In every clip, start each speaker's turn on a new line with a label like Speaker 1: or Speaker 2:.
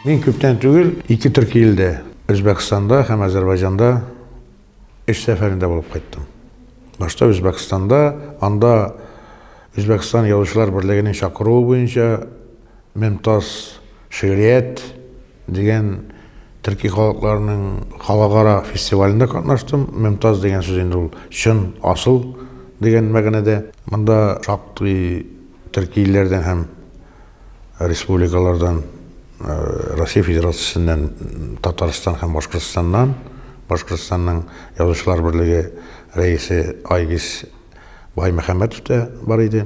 Speaker 1: Мин күптән түгел ике төрки илдә, Үзбәкстанда һәм Азәрбайҗанда эш сәфәрендә булып кайттым. Башта Үзбәкстанда, анда Үзбәкстан язучылар берлегенең чакыруы буенча Мемтаз шигърият дигән төрки халыкларның халыкара фестивалендә катнаштым. Мемтаз дигән сүз инде ул чын, асыл дигән мәгънәдә. Монда шактый төрки илләрдән һәм республикалардан, э, Россия Федерациясеннән, Татарстан һәм Башкортстаннан, Башкортстанның Язучылар берлеге рәисе Айгиз Баймөхәммәтов та бар иде.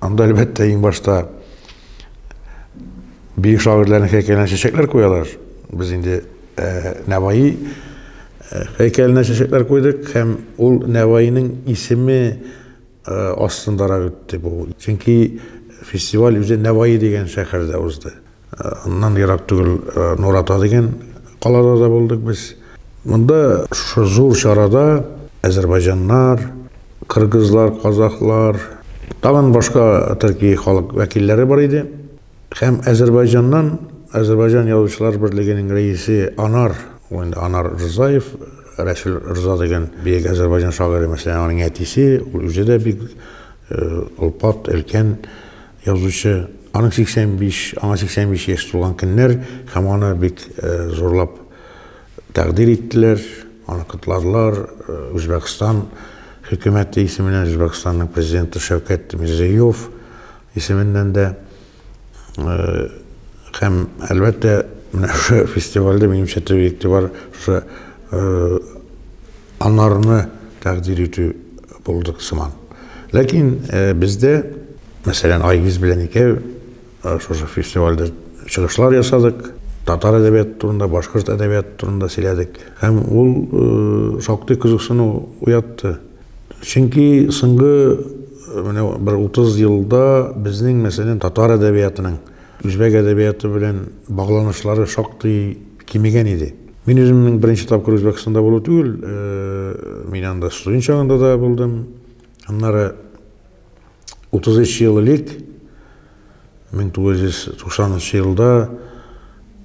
Speaker 1: Анда, әлбәттә, иң башта бөек шагыйрьләрнең һәйкәленә чәчәкләр куялар. Без инде ә, Нәваи э, һәйкәленә чәчәкләр куйдык һәм ул Нәваиның исеме э, астындарак үтте бу. Чөнки фестиваль үзе Нәваи дигән шәһәрдә узды. Аннан ерак түгел Нурата дигән калада да булдык без. Монда шушы зур чарада әзербайҗаннар, кыргызлар, казахлар, тагын башка төрки халык вәкилләре бар иде. Һәм Әзербайҗаннан Әзербайҗан язучылар берлегенең рәисе Анар, ул инде Анар Рзаев, Рәсүл Рза дигән бөек әзербайҗан шагыйре, мәсәлән, аның әтисе, ул үзе дә бик олпат, өлкән Язучы, аның 85, аңа 85 яшь тулган көннәр һәм аны бик зурлап тәкъдир иттеләр, аны котладылар, Үзбәкстан хөкүмәте исеменнән, Үзбәкстанның президенты Шәүкәт Мирзиёв исеменнән дә. Һәм, әлбәттә, менә шушы фестивальдә, минемчә, төп игътибар шушы Анарны тәкъдир итү булдык сыман. Ләкин э, бездә, мәсәлән, Айгиз белән икәү э, шушы фестивальдә чыгышлар ясадык, татар әдәбияты турында, башкорт әдәбияты турында сөйләдек. Һәм ул э, шактый кызыксыну уятты. Чөнки соңгы менә бер 30 елда безнең мәсәлән татар әдәбиятының үзбәк әдәбияты белән багланышлары шактый Кимегән иде. Мин үземнең беренче тапкыр Үзбәкстанда булу түгел, мин анда студент чагында да булдым. Аннары 33 ел элек 1990 елда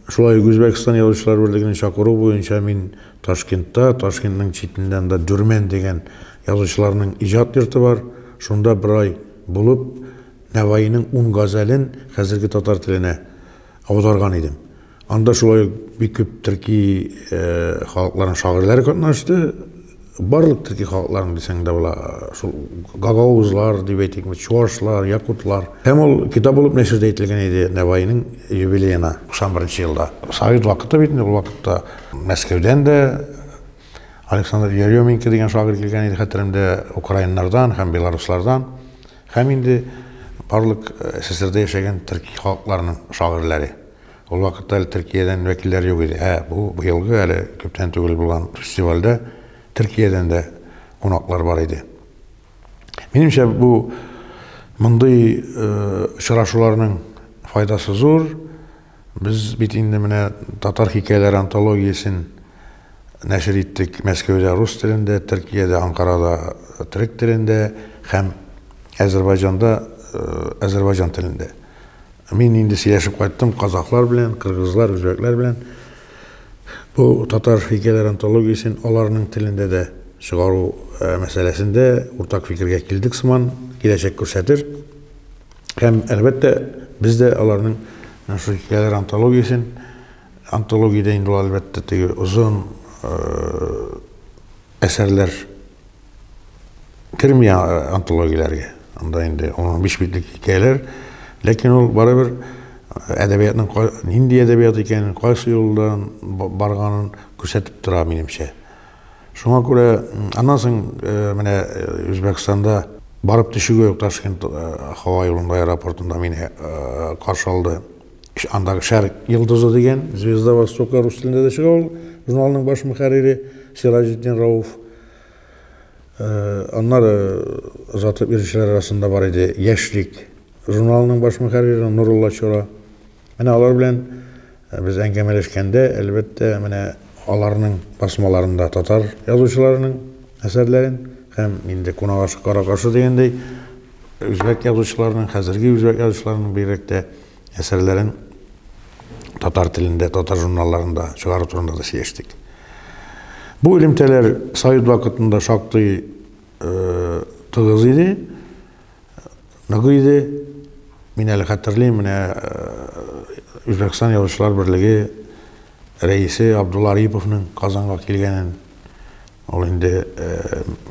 Speaker 1: Шулай ук Үзбәкстан язучылар берлегенең чакыруы буенча мин Ташкентта, Ташкентның читендә анда Дүрмән дигән язучыларның иҗат йорты бар. Шунда бер ай булып, Нәваиның ун газәлен хәзерге татар теленә аударган идем. Анда шулай ук бик күп төрки халыкларның шагыйрьләре катнашты. Барлык төрки халыкларның дисәң дә була. Шул гагаузлар дип әйтик, чуашлар, якутлар. Һәм ул китап булып нәшердә ителгән иде Нәваиның юбилеена 91 нче елда. Совет вакыты бит инде ул вакытта. Мәскәүдән дә Александр Еременко дигән шагыйрь килгән иде, хәтеремдә, украиннардан һәм белоруслардан һәм инде барлык СССРда яшәгән төрки халыкларның шагыйрьләре. Ул вакытта әле Төркиядән вәкилләр юк иде. Ә бу быелгы әле күптән түгел булган фестивальдә Төркиядән дә кунаклар бар иде. Минемчә, бу мондый э, очрашуларның файдасы зур. Без бит инде менә татар хикәяләре антологиясен нәшер иттек Мәскәүдә рус телендә, Төркиядә, Анкарада э, төрек телендә һәм Әзербайҗанда э, Әзербайҗан телендә. Мин инде сөйләшеп кайттым казахлар белән, кыргызлар, үзбәкләр белән. Бу татар хикәяләр антологиясен аларның телендә дә чыгару э, мәсьәләсендә уртак фикергә килдек сыман, киләчәк күрсәтер. Һәм әлбәттә, без дә аларның э, шул хикәяләр антологиясен антологиядә инде ул әлбәттә теге озын э, әсәрләр Керми антологияләргә. Анда инде 15 битлек хикәяләр, ләкин ул барыбер әдәбиятның нинди әдәбият икәнен, кайсы юлдан барганын күрсәтеп тора, минемчә. Шуңа күрә аннан соң менә Үзбәкстанда барып төшүгә үк Ташкент һава юлында аэропортында мине каршы алды. Андагы Шәрык йолдызы дигән Звезда Востока рус телендә дә чыга ул журналның баш мөхәррире Сираҗетдин Рауф. Аннары озатып йөрүчеләр арасында бар иде Яшьлек журналының баш мөхәррире Нурулла Чура. Менә алар белән без әңгәмәләшкәндә, әлбәттә, менә аларның басмаларында татар язучыларының әсәрләрен һәм инде кунак ашы кара каршы дигәндәй, үзбәк язучыларының, хәзерге үзбәк язучыларының бигрәк тә Әсәрләрен татар телендә, татар журналларында чыгару турында да сөйләштек. Бу элемтәләр совет вакытында шактый э, тыгыз иде, ныгы иде. Мин әле хәтерлим, менә Үзбәкстан э, язучылар берлеге рәисе Абдулла Ариповның Казанга килгәнен, Ул инде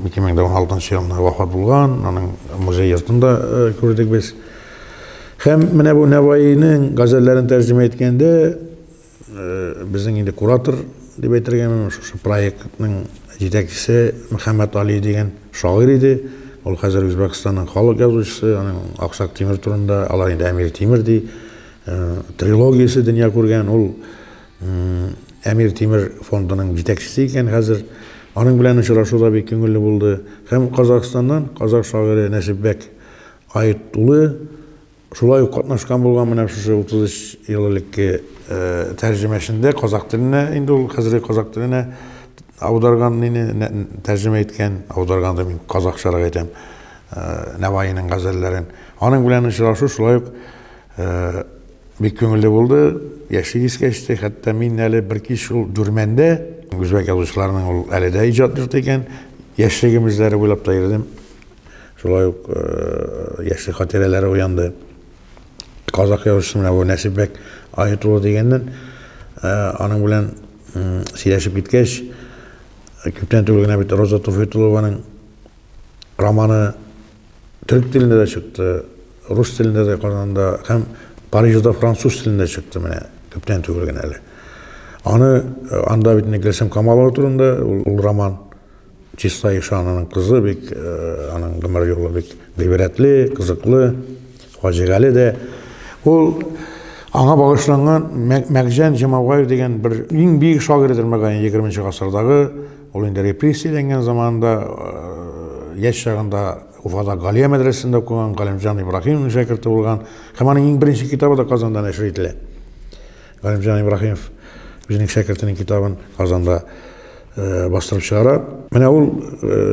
Speaker 1: 2016 елында вафат булган, аның музей йортын да күрдек без. Һәм менә бу Нәваиның газәлләрен тәрҗемә иткәндә безнең инде куратор дип әйтергә мөмкин, шушы проектның җитәкчесе Мөхәммәт Али дигән шагыйрь иде. Ул хәзер Үзбәкстанның халык язучысы, аның Аксак Тимер турында, алар инде Әмир Тимер ди, трилогиясе дөнья күргән. Ул Әмир Тимер фондының җитәкчесе икән хәзер. Аның белән очрашу да бик күңелле булды. Һәм Казахстаннан казах шагыйре Нәсипбәк Аит улы шулай ук катнашкан булган менә шушы 33 ел элекке тәрҗемәчендә казах теленә, инде ул хәзерге казах теленә аударган мине, тәрҗемә иткән, аударган да мин казахчарак әйтәм, Нәваиның газәлләрен. Аның белән очрашу шулай ук Бик күңелле булды. Яше искә чыкты. Хәтта мин әле бер кич шул Дүрмәндә, үзбәк язучыларының ул әле дә иҗат йорты икән, яшьлегем эзләре буйлап та йөрдем. Шулай ук яшьлек хатирәләре уянды. Казакъ язучысы менә бу Нәсыйпбәк Аетулы дигәннән, аның белән сөйләшеп киткәч, күптән түгел генә бит Роза Туфыйтулованың романы Төрек телендә дә чыкты, рус телендә дә Казанда һәм Парижда француз телендә чыкты менә күптән түгел генә әле. Аны э, анда бит Гөлсем Камалова турында ул роман Чиста Иша аның кызы бик э, аның гомер юлы бик гыйбрәтле, кызыклы, фаҗигале дә. Ул аңа багышланган Мәгҗән Җамавгаев дигән бер иң бөек шагыйрьдер мәгән 20 нче гасырдагы Ул инде репрессияләнгән заманында, яшь чагында Уфада Галия мәдрәсәсендә укыган, Галимҗан Ибраһимовның шәкерте булган һәм аның иң беренче китабы да Казанда нәшер ителә. Галимҗан Ибраһимов үзенең шәкертенең китабын Казанда бастырып чыгара. Менә ул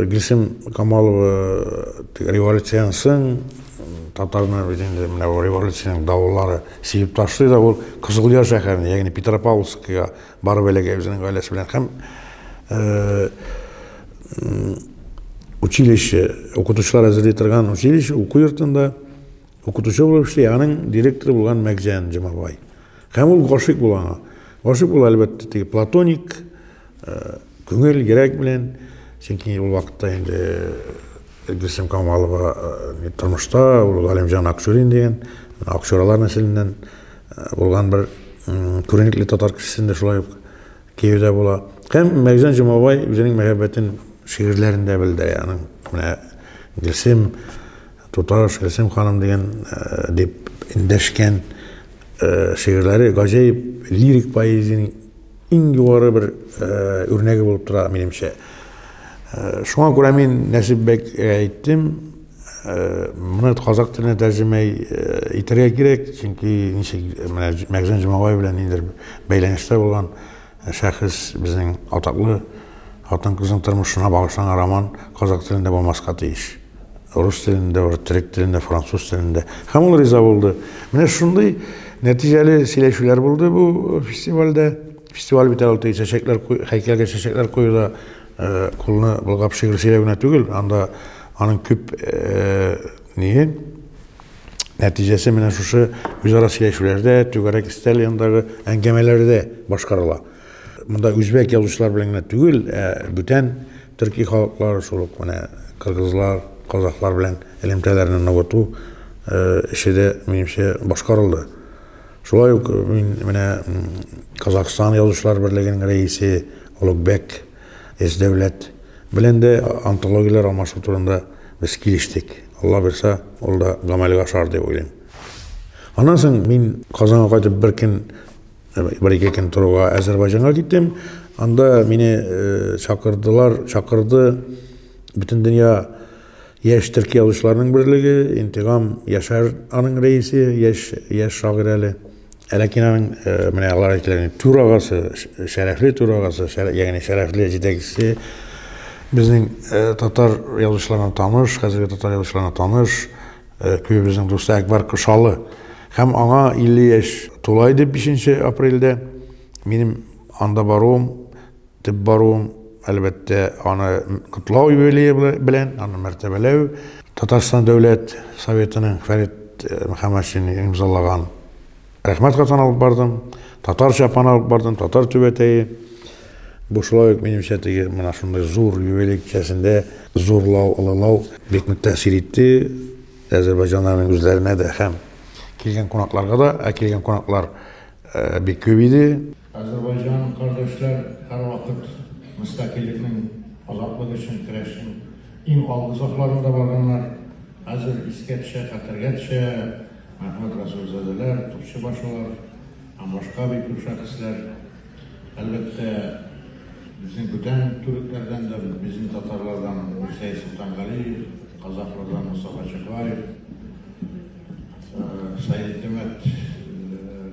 Speaker 1: Гөлсем Камалова революциянән соң татарны бит инде менә бу революциянең давыллары сибеп ташлый да ул Кызылъяр шәһәренә, ягъни Петропавловскига Барып эләгә үзенең гаиләсе белән һәм училище, укытучылар әзерли торган училище, уку йортында укытучы булып эшли, аның директоры булган Мәгзән Җомабай. Һәм ул гашыйк була аңа. Гашыйк була, әлбәттә, теге платоник, Күңел йөрәк белән, чөнки ул вакытта инде Гөлсем Камалова э, тормышта, ул Галимҗан Акчурин дигән Акчуралар нәселеннән э, булган бер күренекле татар кешесендә шулай ук кияүдә була. Һәм Мәгзән Җомабай үзенең мәхәббәтен шигырьләрендә белдерә. Аның менә Гөлсем туташ, Гөлсем ханым дигән э, дип эндәшкән шигырьләре гаҗәеп лирик поэзиянең Иң югары бер үрнәге булып тора, минемчә. Шуңа күрә мин Нәсип бәк әйттем, моны казак теленә тәрҗемә итәргә кирәк, чөнки ничек менә Мәгъзән Җомабай белән ниндер бәйләнештә булган шәхес безнең атаклы хатын-кызның тормышына багышланган роман казак телендә булмаска тиеш. Рус телендә, төрек телендә, француз телендә. Һәм ул риза булды. Менә шундый нәтиҗәле сөйләшүләр булды бу э, фестивальдә. Фестиваль бит әле ул чәчәкләр, һәйкәлгә чәчәкләр куюда э, кулны болгап шигырь сөйләү генә түгел, анда аның күп э, ние нәтиҗәсе менә шушы үзара сөйләшүләрдә, түгәрәк өстәл янындагы әңгәмәләрдә башкарыла. Монда үзбәк язучылар белән генә түгел, ә бүтән төрки халыклар, шул ук менә кыргызлар, казахлар белән элемтәләрне ныгыту эше дә, минемчә, башкарылды. Шулай ук мин менә Казахстан язучылар берлегенең рәисе Олугбәк Эздәүләт белән дә антологияләр алмашу турында без килештек. Алла бирса, ул да гамәлгә ашар дип уйлыйм. Аннан соң мин Казанга кайтып бер көн Бер-ике көн торуга Әзербайҗанга киттем. Анда мине э, чакырдылар, чакырды Бөтендөнья яшь төрки язучыларның берлеге, Интигам яшәр аның рәисе, яшь яшь шагыйрь әле. Әләкинаның э, менә алар әйтелгән түр агасы, шәрәфле түр агасы, ягъни шәрәфле җитәкчесе безнең э, татар язучыларына таныш, хәзерге татар язучыларына таныш, күбебезнең дусты Әкбар Кышалы. Һәм аңа 50 яшь тула иде бишенче апрельдә. Минем анда баруым, теп баруым, әлбәттә, аны котлау юбилее белән, аны мәртәбәләү, Татарстан Дәүләт Советының Фәрит э, Мөхәммәтшин имзалаган рәхмәт хатын алып бардым, татар чапаны алып бардым, татар түбәтәе. Бу шулай ук минемчә теге менә шундый зур юбилей кичәсендә зурлау, олылау бик нык тәэсир итте. Әзербайҗаннарның үзләренә дә һәм килгән кунакларга да, ә килгән кунаклар бик күп иде. Әзербайҗан кардәшләр һәрвакыт мөстәкыйльлекнең, азатлык өчен көрәшнең иң алгы сафларында барганнар. Хәзер искә төшә, хәтергә төшә Мәхмүт Расулзадәләр, Тупчыбашылар һәм башка бик юша кешеләр. Әлбәттә, безнең бүтән төрекләрдән дә, безнең татарлардан Мирсәет Солтангалиев, казахлардан Мустафа Чокаев, Саид Кемет,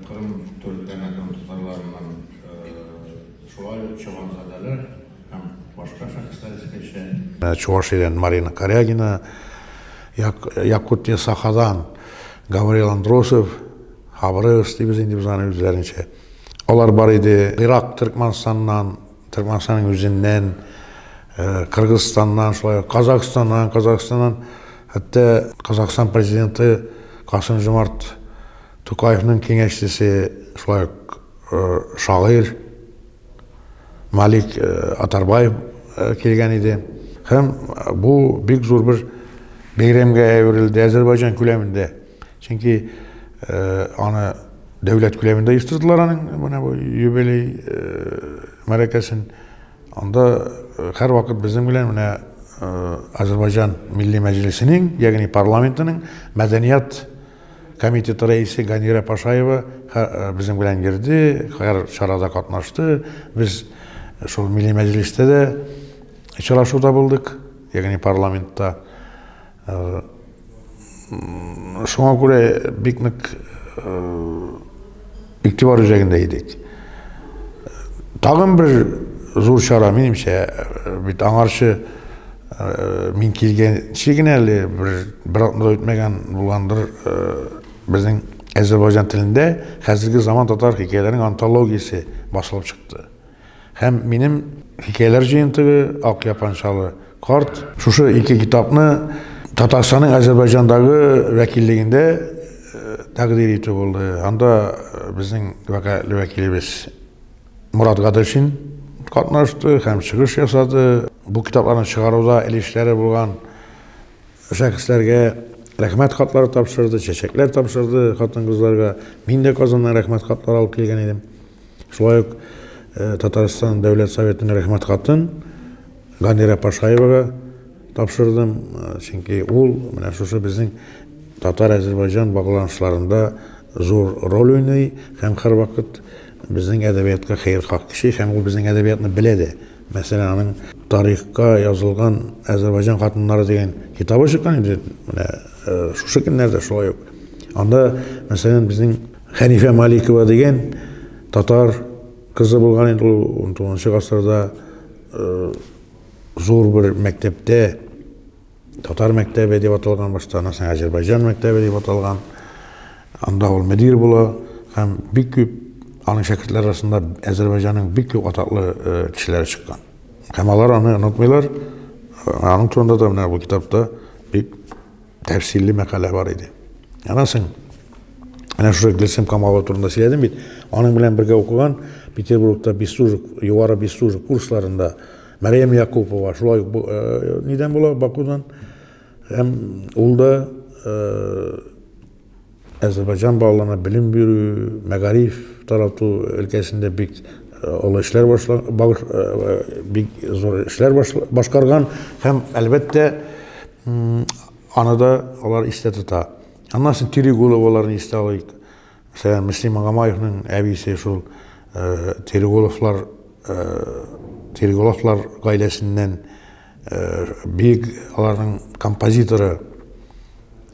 Speaker 1: Кырым төрекләренә Кырым татарларыннан шулай ук Чабанзадәләр һәм башка шәхесләр искәчә. Чувашиядән Марина Корягина, Якутия Сахадан Гаврил Андросов, Хабрыгов дибез инде без аны үзләренчә. Алар бар иде Ирак, Төркмәнстаннан, Төркмәнстанның үзеннән, Кыргызстаннан, шулай ук Казахстаннан, Казахстаннан, хәтта Казахстан президенты Касым-Жомарт Тукаевның киңәшчесе, шулай ук шагыйрь Малик Атарбаев килгән иде. Һәм бу бик зур бер бәйрәмгә әверелде Әзербайҗан күләмендә. Чөнки аны дәүләт күләмендә оештырдылар аның менә бу юбилей мәрәкәсен. Анда һәрвакыт безнең белән менә Азербайҗан Милли Мәҗлесенең, ягъни парламентының мәдәният комитеты рәисе Ганира Пашаева безнең белән йөрде, һәр чарада катнашты. Без шул Милли Мәҗлестә дә очрашуда булдык, ягъни парламентта. Шуңа күрә бик нык игътибар үзәгендә идек. Тагын бер зур чара, минемчә, бит аңарчы мин килгәнче генә әле бер бер атнада үтмәгән булгандыр, безнең Әзербайҗан телендә хәзерге заман татар хикәяләренең антологиясе басылып чыкты. Һәм минем хикәяләр җыентыгы Ак япанчалы карт. Шушы ике китапны Татарстанның Азәрбайҗандагы вәкиллегендә тәкъдир итү булды. Анда безнең вәкаләтле вәкилебез Мурат Гаделшин катнашты һәм чыгыш ясады. Бу китапларны чыгаруда өлешләре булган шәхесләргә рәхмәт хатлары тапшырды, чәчәкләр тапшырды хатын-кызларга. Мин дә Казаннан рәхмәт хатлары алып килгән идем. Шулай ук Татарстан Дәүләт Советының рәхмәт хатын Ганира Пашаевага тапшырдым, чөнки ул менә шушы безнең татар-азербайҗан багланышларында зур роль уйный һәм һәрвакыт безнең әдәбиятка хәер какчы һәм ул безнең әдәбиятны белә дә. Мәсәлән, аның тарихка язылган Азербайҗан хатыннары дигән китабы чыккан инде, менә шушы көннәрдә шулай ук. Анда, мәсәлән, безнең Хәнифә Маликова дигән татар кызы булган инде ул 19 гасырда зур бер мәктәптә татар мәктәбе дип аталган башта аннан соң Азербайҗан мәктәбе дип аталган анда ул мөдир була һәм бик күп аның шәкертләре арасында Азербайҗанның бик күп атаклы кешеләре чыккан һәм алар аны онытмыйлар аның турында да менә бу китапта бик Тәфсилле мәкалә бар иде. Аннан соң Әнә шушы Гөлсем Камалова турында сөйләдем бит. Аның белән бергә укыган Петербургта Бестужев, югары Бестужев курсларында Мәрьям Якупова, шулай ук э, нидән була, Бакудан. Һәм ул да э, Азербайҗан балаларына белем бирү, мәгариф тарату өлкәсендә бик олы эшләр бик зур эшләр башкарган һәм, әлбәттә, аны да алар истә тота. Аннан соң Терегуловаларны истә алыйк. Мәсәлән, Мөслим Магомаевның әбисе шул Терегуловлар Терегуловлар гаиләсеннән. Бөек аларның композиторы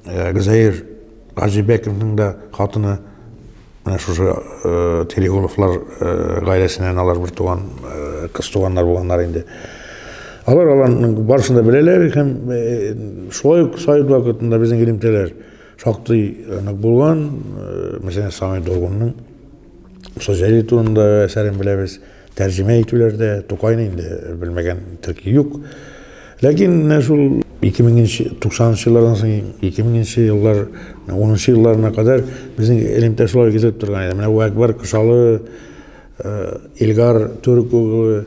Speaker 1: Гзаир Гаҗибәковның да хатыны менә шушы Терегуловлар гаиләсеннән алар бер туган кыз туганнар булганнар инде. Алар аларның барысын да беләләр һәм шулай ук совет вакытында безнең элемтәләр шактый нык булган. Мәсәлән, Самый Долгунның Созяли турында әсәрен беләбез. Тәрҗемә итүләрдә Тукайны инде белмәгән төрки юк. Ләкин менә шул 2090 нчы еллардан соң 2000 нчы еллар 10 нчы елларына кадәр безнең элемтә шулай гизеп торган иде. Менә Вәкбар Кышалы, Илгар Түрк углы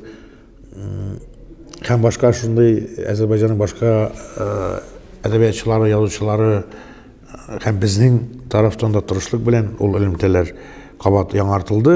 Speaker 1: һәм башка шундый Әзербайҗанның башка әдәбиятчылары, язучылары һәм безнең тарафтан да тырышлык белән ул элемтәләр кабат яңартылды.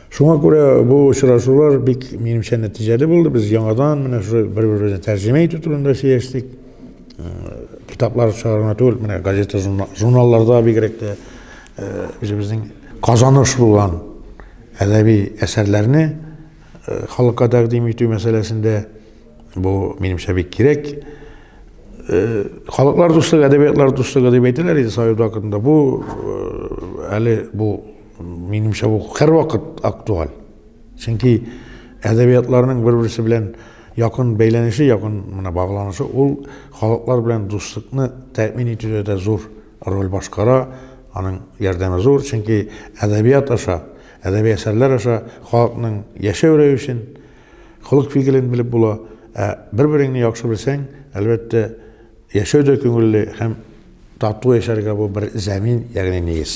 Speaker 1: Шуңа күрә бу очрашулар бик минемчә нәтиҗәле булды. Без яңадан менә шушы бер-беребезне тәрҗемә итү турында сөйләштек. Китаплар чыгарына түгел, менә газета журналларда бигрәк тә үзебезнең казаныш булган әдәби әсәрләрне халыкка тәкъдим итү мәсьәләсендә бу минемчә бик кирәк. Халыклар дуслыгы, әдәбиятлар дуслыгы дип әйтәләр иде совет вакытында. Бу әле бу Минемчә, бу һәрвакыт актуаль. Чөнки әдәбиятларның бер-берсе белән якын бәйләнеше, якын менә багланышы ул халыклар белән дуслыкны тәэмин итүдә дә зур роль башкара. Аның ярдәме зур, чөнки әдәбият аша, әдәби әсәрләр аша халыкның яшәү рәвешен, холык-фигылен белеп була. Ә бер-береңне яхшы белсәң, әлбәттә, Яшәү дә күңелле һәм тату яшәргә бу бер зәмин, ягъни нигез.